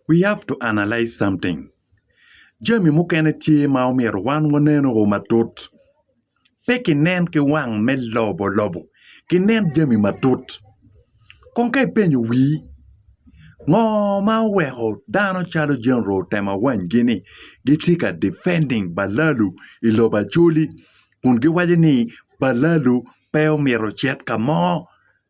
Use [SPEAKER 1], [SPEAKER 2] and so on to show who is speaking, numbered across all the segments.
[SPEAKER 1] We have to analyse something, jami mukene tye ma omyero wan waneno o matut, pe ki nen ki wang me lobo lobo, ki nen jami matut. Kong ka ipenyo wii, ngo ma oweko dano calo General otemo awanygi ni gitye ka defending balalu i lobo Acholi kun giwaco ni balalu pe omyero ocit ka mo?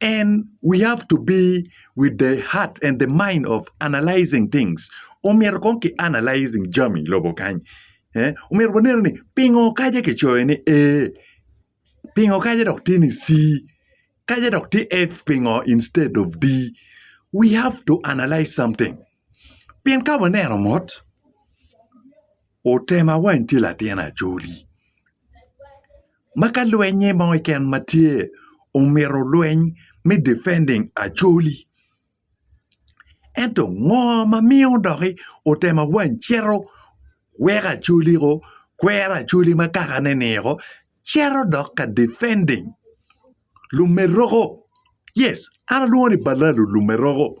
[SPEAKER 1] And we have to be with the heart and the mind of analysing things. Omyero kong ki analysing jami i lobo kany. Eh? Omyero waneno ni pingo kaja kicoyo ni ee, pingo kaja dok tye ni si, kaja dok tye F pingo instead of D. We have to analyse something. Pien ka waneno mot, otema wany tye latin Acholi. ma ka lwenye mo keken ma tye omyero olweny me defending Acholi ento ngo ma miyo doki otemo awany cito weko Acholi o kwero Acholi ma kakane-ni o cito dok ka defending Lumeroko yes an alwongo ni Balalo Lumeroko.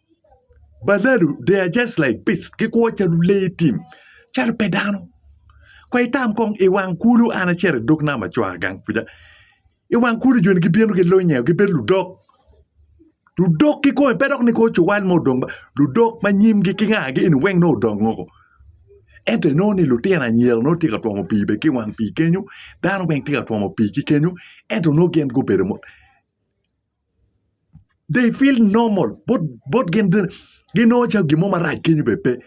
[SPEAKER 1] Baladu they are just like beast gikwo calo lee tim calo pe dano kong itam kong i wang kulu an acito i dog nam acwaka gang kuca i wang kulu joni gibino gilunyo i gibedo ludok, ludok kikome pe dok ni kong cuwal mo odong ludok ma nyimgi ki ngagi eni weng nongo odong woko ento inongo ni lutino anyira nongo tye ka twomo pii bene ki i wang pii kenyo dano weng tye ka twomo pii ki kenyo ento nongo gin gubedo they feel normal bot bot gin bene ginongo calo gin mo marac kenyo bene pe,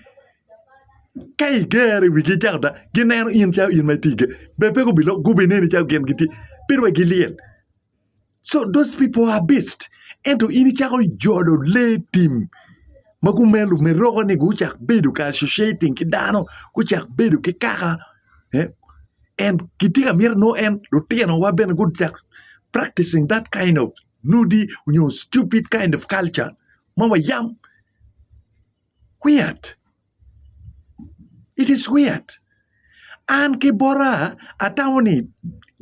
[SPEAKER 1] ka igere wigi icako da gineno in calo in ma itye iye bene pe gubiloko gubineni calo gin gitye pire wai gilyel co those people are beast ento in icako jolo lee tim ma gumelo meroka ni gucak bedo kar associating ki dano gucak bedo ki kaka and kitye ka miti nongo en lutinowa bene gucak practicing that kind of nudi nyo stupid kind of culture ma wayam weird it is weird an ki bota atamo ni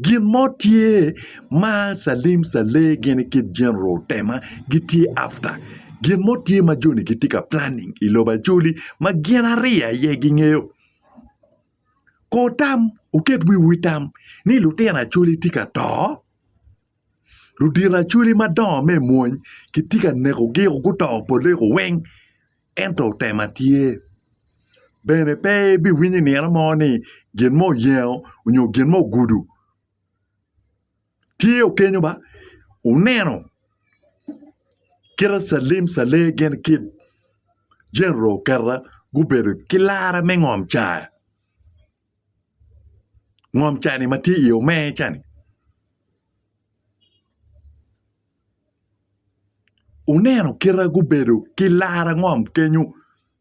[SPEAKER 1] gin mo tye ma Salim Saleh gin ki General Tema gitye after gin mo tye ma joni gitye ka planning i lobo Acholi ma gin ariya aye gingeyo Kor tam, wuket wiwu i tam ni lutino Acholi tye ka to, ludito Acholi madongo me mony kitye ka nekogi woko guto poleko weng, ento tema tye. Bene pe ibiwinyo i nino mo ni gin mo oyengo nyo gin mo ogudo. Tye okenyo ma wuneno kite calim calem gin kit General Oketa gubedo ki lara me ngom caa, ngom caa ni ma tye i omer ca ni wuneno kite gubedo ki lara ngom kenyo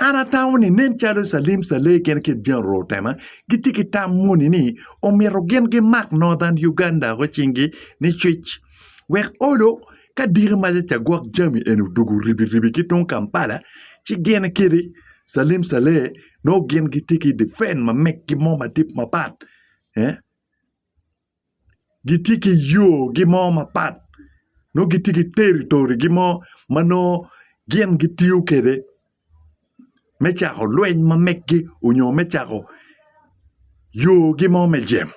[SPEAKER 1] An atamo ni nen calo Calim Saleh gin ki General Otema gitye ki tam moni ni omyero gin gimak Northern Uganda woko cinggi nicwic wek olo ka diki macaca gwok jami eni odwogo ribi ribi ki tung Kampala ci gin kadi Calim Saleh nongo gin gitye ki defend ma meggi mo madit mapat. gitye ki yogi mo mapat nongo gitye ki teritorigi mo ma nongo gin gitiyo kwede me cako lweny ma megi nyo me cako yogi mo me jemo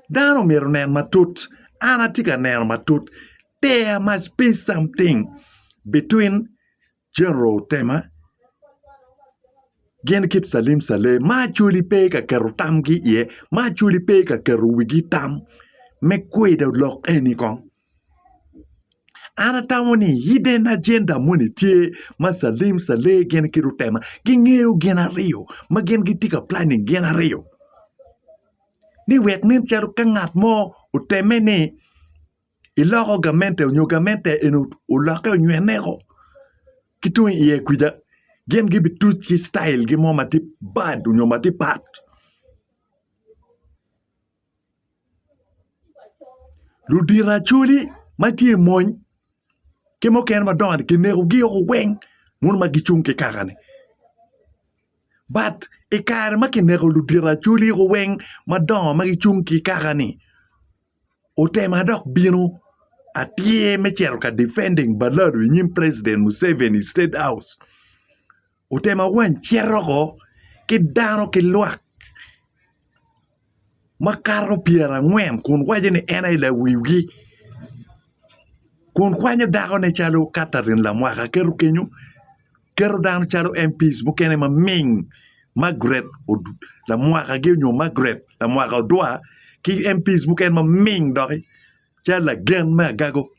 [SPEAKER 1] dano myero onen matut an atye ka neno matut there must be something between. Chenro Tema, Gin kit calim calem ma Acholi pe ka keto tamgi iye, ma Acholi pe ka keto wigi i tam me kwido lok eni kong. An atamo ni hidden agenda moni tye ma calim cale gin ki Rutema gingeyo gin aryo ma gin gitye ka planning gin aryo ni wek nen calo ka ngat mo otemme ni iloko gamente onyo gamente eni olokke onywene o ki tung iye kwica gin gibi tuc ki citail gi mo ma tye bad onyo ma tye pat ludito acholi ma tye i mony ki mukene madongo ni kinekogi o weng mono ma gicung ki kaka ni bat i kare ma kineko ludito acholi o weng madongo ma gicung ki kaka ni otema dok bino atir me cito ka defending Baladu i nyim president Museveni i state house otema wany cito ko ki dano ki lwak makato pyerangwen kun waco ni en aye lawiwgi kun kwanyo dakone calo Catherine Lamwaka keto kenyo Keto dano calo MPs mukene ma ming Margaret lamwakagi onyo Margaret lamwaka odwa ki MPs mukene ma ming doki calo lagen me agago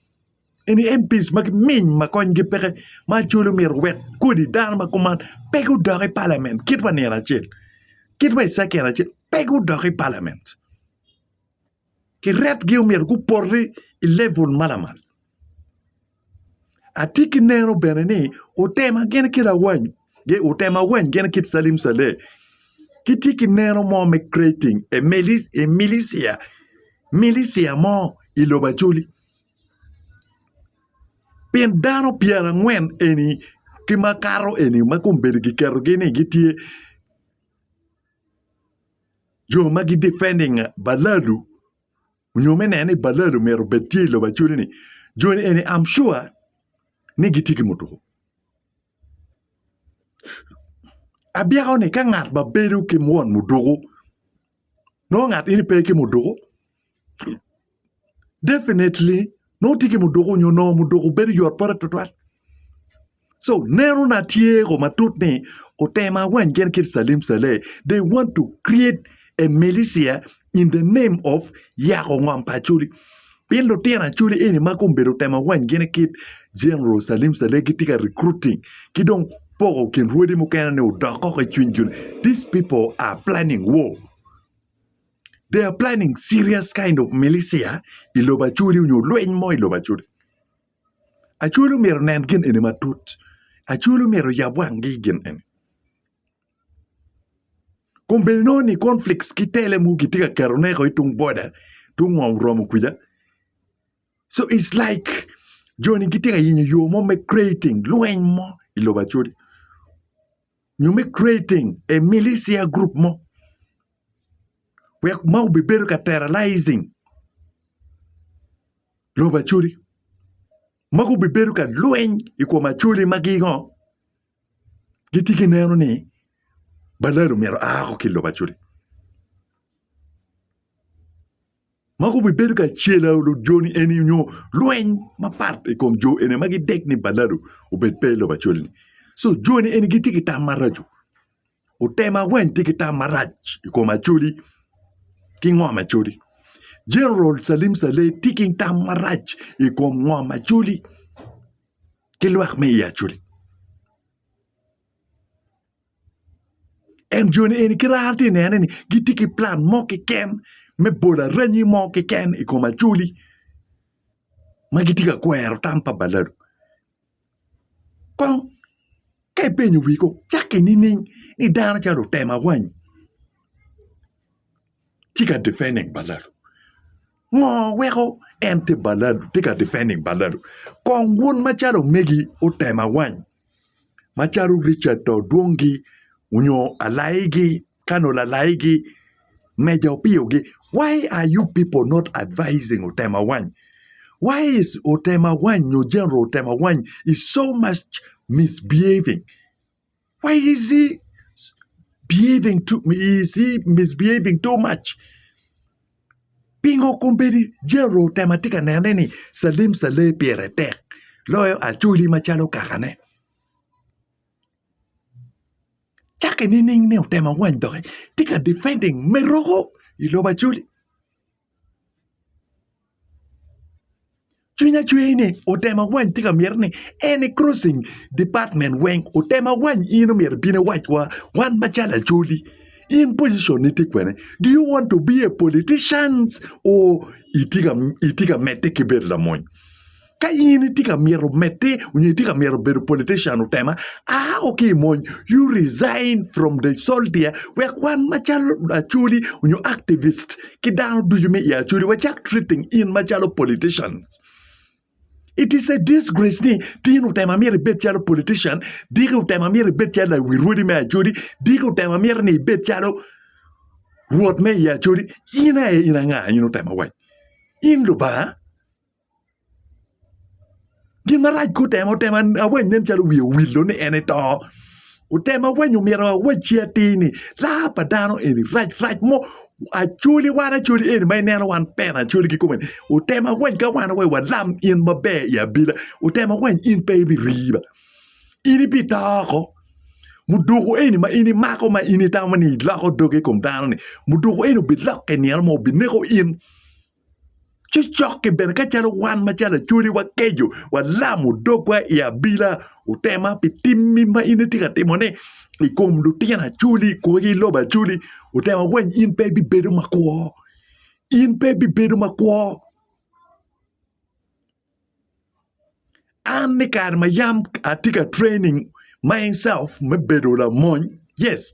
[SPEAKER 1] eni MPs ma giming ma konygi peke ma actually myero owek kodi dano ma kuman pe gudok i Parliament kit ma nino acel kit ma i second acel pe gudok i Parliament. kiretgi omyero gupoti i level ma lamal. Atye ki neno bene ni otema gin ki lawany gi otema awany gin ki Salim Saleh gitye ki neno mo me creating a militia, militia mo i lobo Acholi pien dano pyerangwen eni ki makato eni ma kombeddi giketogi ni gitye jo ma gi defending balalu nyo me neno ni balalu myero obed tye i lobo acholi ni joni eni I'm sure ni gitye ki mutuku. Abyeko ni ka ngat ma bedo ki mwon muduku nongo ngat eni pe ki muduku definitely nongo tye ki muduku nyo nongo muduku bedo yot pote tutwal so neno na tye ko matut ni otemo awany gin kit Salim Saleh they want to create a militia in the name of yako ngom pa Acholi pien lutino Acholi eni ma kong bedo otemo awany gin kit General Salim Saleh gitye ka recruiting ki dong poko kin rwodi mukene ni odok koko i cwiny jo-ni these people are planning war they are planning serious kind of militia i lobo Acholi nyo lweny mo i lobo Acholi. Acholi omyero nen gin eni matut. Acholi omyero yab wanggi i gin eni. Kun bene nongo ni conflicts ki tele mogo kitye ka keto neko i tung boda, tung ngom romo kwija. So it's like joni gitye ka yenyo yo mo me creating lweny mo i lobo Acholi. nyo me creating a militia group mo wek ma obibedo ka terrorizing lobo Acholi ma gubibedo ka lweny i kom Acholi ma gingo gitye gineno ni balalo myero a ki i lobo Acholi. ma gubibedo ka celo lujoni eni nyo lweny mapat i kom jo eni ma gidek ni balado obed pe i lobo acol-li. So joni eni gitye ki tam maraco. Otema weng tye ki tam marac i kom acoli ki ngom acoli. Jeneral Salim Saleh tye ki tam marac i kom ngom acoli ki lwak me i acoli. En joni eni kit ma an atye ka nene ni gitye ki plan mo keken me bolo aranyi mo keken i kom Acholi ma gitye ka kwero tam pa baladu kong ka ipenyo wigi kong cak ki nining ni dano calo otemo awanyi. tye ka defending baladu? Ngo weko en tye baladu tye ka defending baladu? Kong wun macalo omegi otema wany macalo Richard to dwong gi onyo alai gi kano lalai gi meja opiyo gi why are you people not advising otema wany why is otema wany nyo general otema wany is so much misbehaving Why is he behaving too is he misbehaving too much? Pingo kombedi Jero otemo atye ka nene ni Salim Saleh pire tek loyo Acholi macalo kakane. Cake nining ni otemo awany doki tye ka defending Meroko i lobo Acholi. Cwinya cwer ni otemo wany tye ka myero ni any crossing department weng otem awany in omyero ibin iwac wa wan macalo acholi in position ni tye kwene do you want to be a politician or itye ka medde ki bedo lamony. Ka in itye ka myero medde onyo itye ka myero bedo politician otema a o ki imony you resign from the soldier wek wan macalo acholi onyo activist ki dano ducu me i acholi wacak treating in macalo politicians it is a disgrace ni tin otema myero ibed calo politician diki otema myero ibed calo lawi rwodi me acholi diki otema myero ni ibed calo rwot me i acholi in aye in anga in otema waci in lubanga. Gin marac ka otemo otemo awany nen calo wiye owillo ni en eto. Otemo awany omyero awacci atir ni laa pa dano eni rac rac mo acoli wan acoli eni ma ineno wan pena acoli kikome ni otemo awany ka wan aye walam in maber i abila otemo awany in pe ibiriba in ibito oko muduku eni ma in imako ma in itamo ni iloko dogi i kom dano-ni muduku eni obilokke nino mo obineko in Cokke bene ka calo wan macalo Acholi wakeco, walamo dogwa i abila, otema pi timmi ma in itye ka timone i kom lutino Acholi i kwogi i lobo Acholi, otema weny in pe ibibedo makwo, in pe ibibedo makwo. An i kare ma yam atye ka training myself me bedo lamony, yes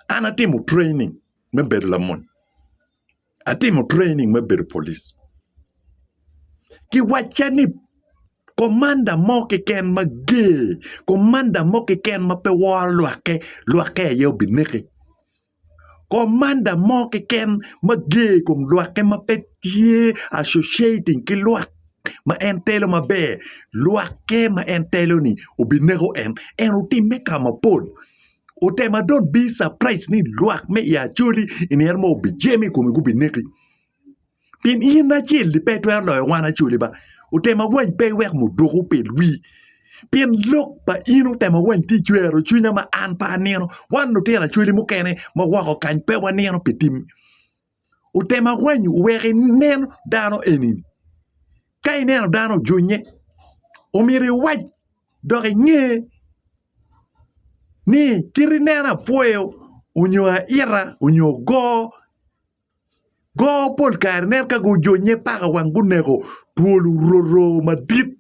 [SPEAKER 1] an atimo training me bedo lamony, atimo training me bedo polic, kiwacca ni komanda mo keken mager, komanda mo keken ma pe woro lwakke, lwakke aye obineki. Komanda mo keken ma ger i kom lwakke ma pe tye associating ki lwak ma en telo maber, lwakke ma en telo-ni obineko en. En otimme ka mapol. Otema dong bi surprise ni lwak me i Acholi i nino mo obijemo i kome gubineki. Pien in acel-li pe itwero loyo wan acoli ba, otemo awany pe iweko mudoko opel wii. Pien lok pa in otemo awany tye icwero cwinya ma an pe anino, wan lutino acoli mukene ma woko kany pe wanino pi timmi. Otemo awany oweko inen dano eni-ni, ka ineno dano ojunye omyero iwac dok inge ni kit ineno apwoyo onyo aita onyo ogo. Go pol kare nen ka gujonye paka wang guneko twol ororo madit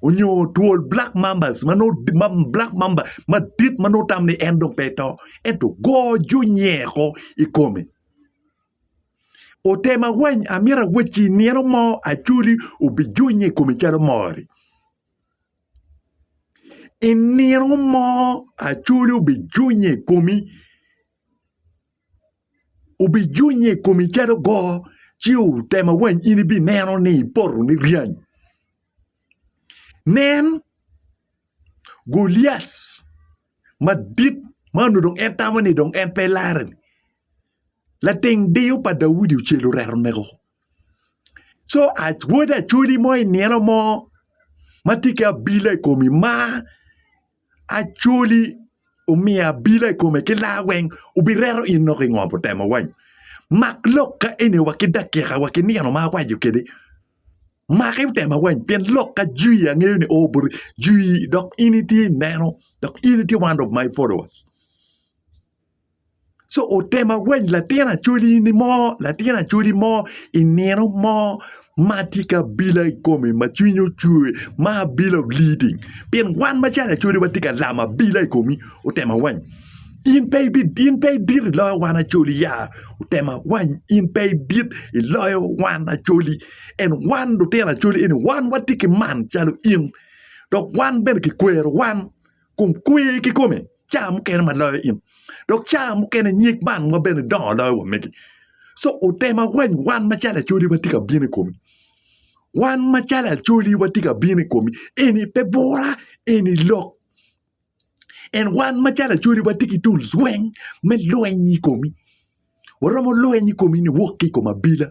[SPEAKER 1] onyo twol black mambas ma nongo black mamba madit ma nongo tamo ni en dong pe to ento go junye ko i kome. Ote mawany amyero awacci nino mo Acholi obijunye i kome calo mor-ri. I nino mo Acholi obijunye i komi. Obijunnye i komi calo goo, ci otema wany in ibineno ni ipotone ryany. Nen, Goliat madit ma onongo dong en tamo ni dong en pe larre-ni, lating diyo pa Daudi ocel oreto neko. Co wod acholi mo i nino mo ma tye ki abila i komi ma Acholi omiyo abila i kome ki laa weng obireto in nok ingo putemo wany mak lok ka eni wa ki dakika wa ki nino ma awaco kede maki putema wany pien lok ka jwi angeyo ni oo boti jwi dok in itye ineno dok in itye one of my followers. Co otemo awany latin acholi ni mo latin acholi mo i nino mo ma tye ki abila i kome ma cwinye ocwe ma abila leading pien wan macalo acholi watye ka lamo abila i komi otemo awany in pe idit i loyo wan acoli ya otemo awany in pe idit i loyo wan acoli and wan lutino acoli eni wan watye ki man calo in dok wan bene kikwero wan. kun kwer kikome caa mukene ma loyo in dok caa mukene nyig bang wa bene dongo loyo wa megi so otemo awany wan macalo acholi wa tye ka bino i komi wan macalo acholi wa tye ka bino i komi eni pe bura eni lok en wan macalo acholi wa tye ki tools weng me lweny i komi waromo lweny i komi ni wok ki i kom abila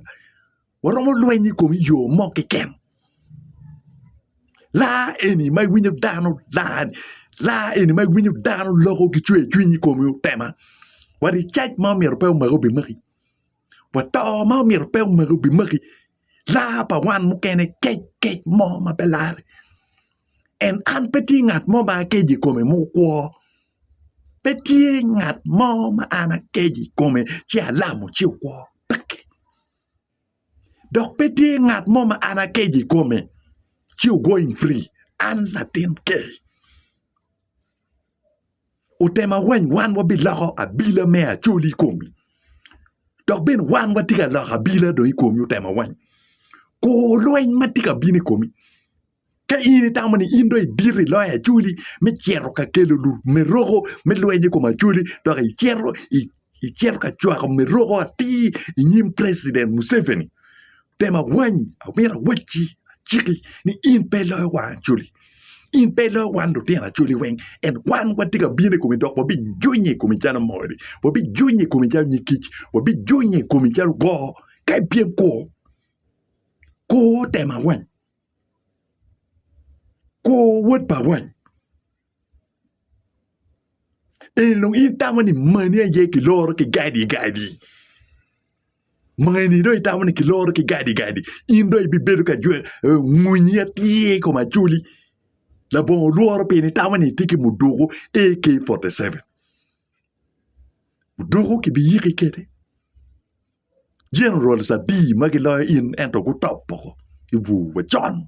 [SPEAKER 1] Waromo lweny i kom yo mo keken. Laa eni ma iwinyo dano laa, laa eni ma iwinyo dano loko ki cwer cwiny i komi otema. Wat i cac ma omyero pe omaki obimaki. Wat to ma omyero pe omaki obimaki. Laa pa wan mukene kec kec mo ma pe lare. En an pe tye ngat mo ma akeco i kome ma okwo. Pe tye ngat mo ma an akeco i kome ci alamo ci okwo. Peki. Dok pe tye ngat mo ma an akeco i kome ci ogoing free an latin ker. Otema wany wan wabiloko abila me Acholi i komi dok bene wan watye ka loko abila dong i komi Otema wany. Kor lweny ma tye ka bino i komi Ka in itamo ni in dong idito i loyo Acholi me cito ka kelo lumeroko me lweny i kom Acholi dok icito icito ka cwako meroko atir i nyim President Museveni, tem awany, amyero awacci, aciki ni in pe iloyo wan Acholi. In pe iloyo wan lutino Acholi weng. En wan watye ka bino i komi dok wabijunyo i komi calo mori, wabijunyo i komi calo nyig kic, wabijunyo i komi calo goo ka ipyem kwo. Kwo tem awany. Kor wod bawany, eni dong in itamo ni mani aye kiloro ki gadi gadi? Ma eni dong itamo ni kiloro ki gadi gadi? In dong ibibedo ka jwe eh, ngunyi atir i kom acoli. Labongo olworo pien itamo ni itye ki muduku AK47. Muduku kibiyiki kwede. Generals adi ma giloyo in ento gutop woko i bur wa con?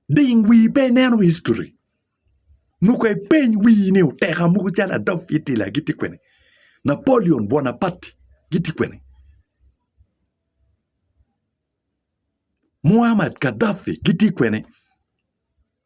[SPEAKER 1] Ding wii pe ineno history. Muko ipeny wii ni oteka muku calo Adolf Hitler giti kwene? Napoleon Bonaparte giti kwene? Muammar Gaddafi giti kwene?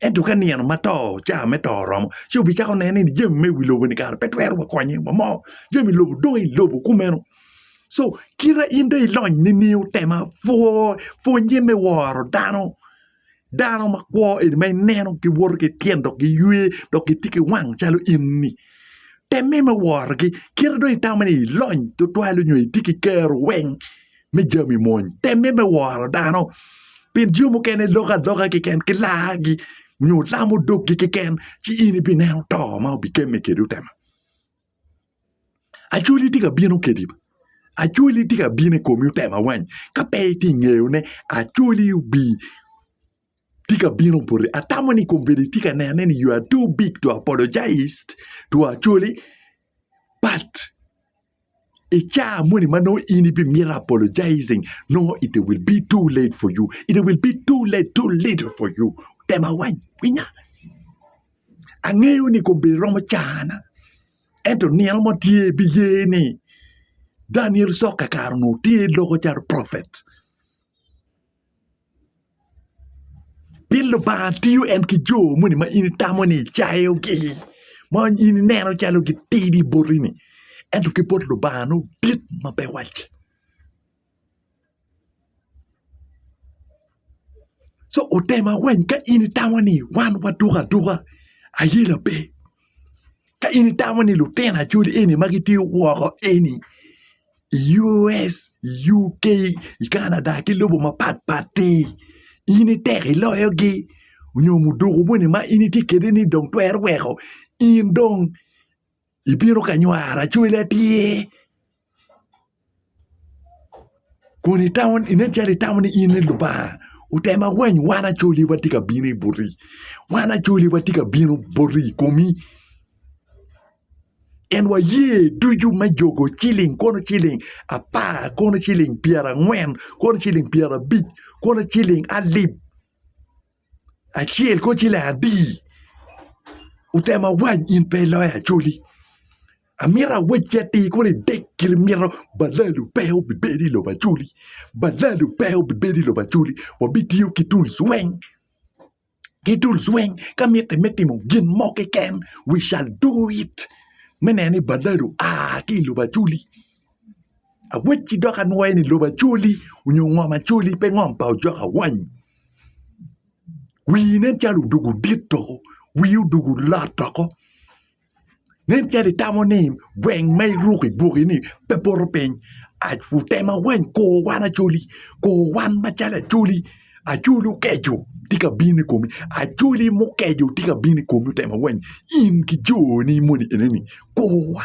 [SPEAKER 1] Ento ka nino ma to caa me to oromo ci wubicako neno ni jami me i wi lobo-ni kara pe twero wa konye wa mo, jami i lobo dong i lobo kumeno. Co kite in dong ilony nining tem apwoo pwonye me woro dano, dano makwo eni ma ineno giwoto ki tyen dok giywe dok gitye ki wang calo in-ni temme me worogi kit ma dong itamo ni ilony tutwal nyo itye ki kero weng. me jami mony. Temme me woro dano pien jo mukene loko aloka keken ki laagi nyo lamo doggi keken ci in ibineno to ma obikemme kedi otema. Acwali tye ka bino kedi, acwali tye ka bino i komi otema wany ka pe itye i ngeyone acwali obi tye ka bino boti atamo ni kombeddi itye ka nene ni you are too big to apologise to acwali but I caa moni ma nongo in ibi mito apologizing nongo it will be too late for you it will be too late too little for you tema wany winya angeyo ni kombeddi romo cana ento nino mo tye ibiye ni Daniel Soka kare onongo tye loko calo prophet Pien Lubanga tiyo en ki jo moni ma in itamo ni icayogi, ma in ineno calo gitidi boti-ni, ento ki bot Lubanga nongo git ma pe wacce. Co otem awany ka in itamo ni wan waduko aduka, aye labe. Ka in itamo ni lutino acoli eni ma gitye woko eni i US, i UK, i Canada ki lobo mapat pat-ti in itek iloyogi onyo muduku moni ma in itye kede ni dong twero weko in dong ibino ka nywaro acwali atir kun itamo inen calo itamo ni in i Lubanga otem awany wan acwali watye ka bino boti wan acwali watye ka bino boti i komi. En waye ducu me jogo ciling kono ciling apar kono ciling pyera angwen kono ciling pyera abic kono ciling alip acel kono ciling adi otemo awany in pe iloyo acoli amito awacci atir kono idek kiri mito balalu pe obibedo ilobo acoli balalu pe obibedo ilobo acoli wabitiyo ki tuls weng Gi dul zweng ka mitte me timo gin mo kiken, we shall do it, me neno ni baladu a ki i lobo acoli. Awecci dok anwoye ni lobo acoli onyo ngom acoli pe ngom pa ojok awany. Wii nen calo odoko dit doko, wii odoko lot doko. Nen calo itamo ni gweng ma iruko i gwoki ni pe poto piny. Tem awany kor wan Acholi, kor wan macalo Acholi, Acholi okeco tye ka bino i komi, Acholi mukeco tye ka bino i komi tem awany in ki joni moni enoni kor wa.